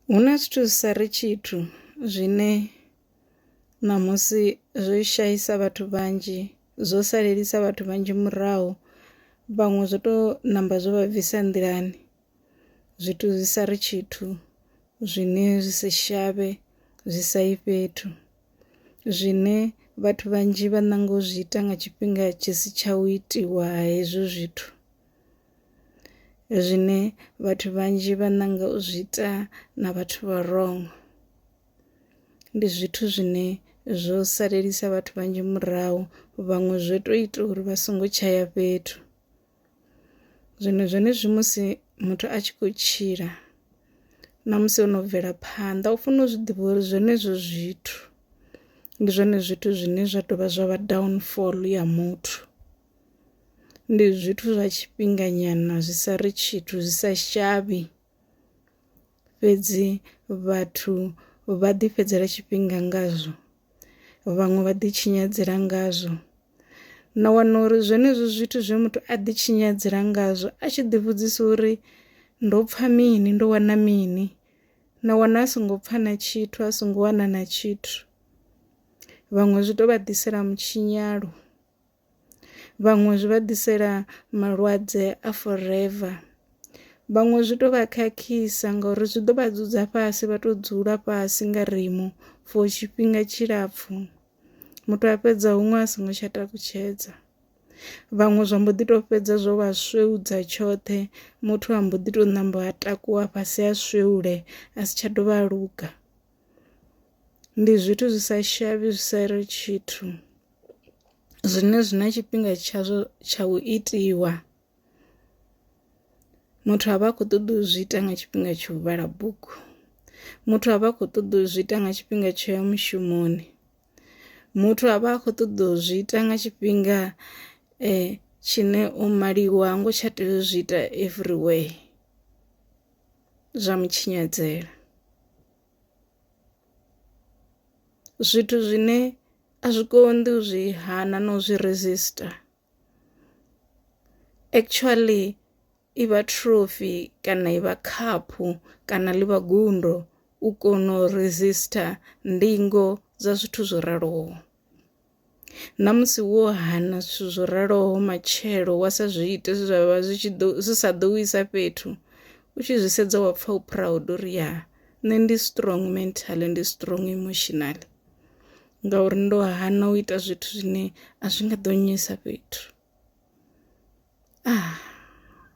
Hu na zwithu zwi sa ri tshithu zwine ṋamusi zwo shaisa vhathu vhanzhi zwo salelisa vhathu vhanzhi murahu, vhaṅwe zwo to ṋamba zwo vha bvisa nḓilani zwithu zwi sa ri tshithu zwine zwi si shavhe zwi sa yi fhethu, zwine vhathu vhanzhi vha ṋanga u zwi ita nga tshifhinga tshi si tsha u itiwa hezwo zwithu. zwine vhathu vhanzhi vha ṋanga u zwi ita na vhathu vha wrong. Ndi zwithu zwine zwo salelisa vhathu vhanzhi murahu vhaṅwe zwo to ita uri vha songo tshaya fhethu, zwino zwenezwi musi muthu a tshi kho tshila na musi ono bvela phanḓa u funa u zwi ḓivha uri zwenezwo zwithu ndi zwone zwithu zwine zwa tovha zwa vha downfall ya muthu. Ndi zwithu zwa tshifhinganyana zwi sa ri tshithu zwi sa shavhi, fhedzi vhathu vha ḓi fhedzela tshifhinga ngazwo vhaṅwe vha ḓi tshinyadzela ngazwo, na wana uri zwenezwo zwithu zwe muthu a ḓi tshinyadzela ngazwo a tshi ḓi vhudzisa uri ndo pfha mini ndo wana mini na wana a songo pfha na tshithu a songo wana na tshithu, vhaṅwe zwi to vha ḓisela mutshinyalo. vhaṅwe zwi vha ḓisela malwadze a forever, vhaṅwe zwi to vha khakhisa ngauri zwi ḓo vha dzudza fhasi vha to dzula fhasi nga rimu for tshifhinga tshilapfhu muthu a fhedza huṅwe a songo tsha takutshedza. Vhaṅwe zwa mbo ḓi to fhedza zwo vha swevhudza tshoṱhe muthu a mbo ḓi to namba a takuwa fhasi a swevhule a si tsha dovha a luga, ndi zwithu zwi sa shavhi zwi sa ri tshithu. zwine zwi na tshifhinga tshazwo tsha u itiwa, muthu avha a kho ṱoḓa u zwi ita nga tshifhinga tsha u vhala bugu, muthu avha a kho ṱoḓa u zwi ita nga tshifhinga tsho ya mushumoni, muthu avha a kho ṱoḓa u zwi ita nga tshifhinga tshine o maliwa ha ngo tsha tea u zwi ita everywhere zwa mu tshinyadzela. zwithu zwine a zwi konḓi u zwi hana na u zwi resistor. Actually i vha throphy kana i vha khaphu kana ḽi vha gundo u kono u resistor ndingo dza zwithu zwo raloho. Na musi wo hana zwithu zwo raloho matshelo wa sa zwi ite zwe zwa vha zwi tshi ḓo, zwi sa ḓo u isa fhethu, u tshi zwi sedza wa pfa u proud uri ya nṋe ndi strong mentally, ndi strong emotionally ngauri ndo hana u ita zwithu zwine a zwi nga ḓo nnyisa fhethu .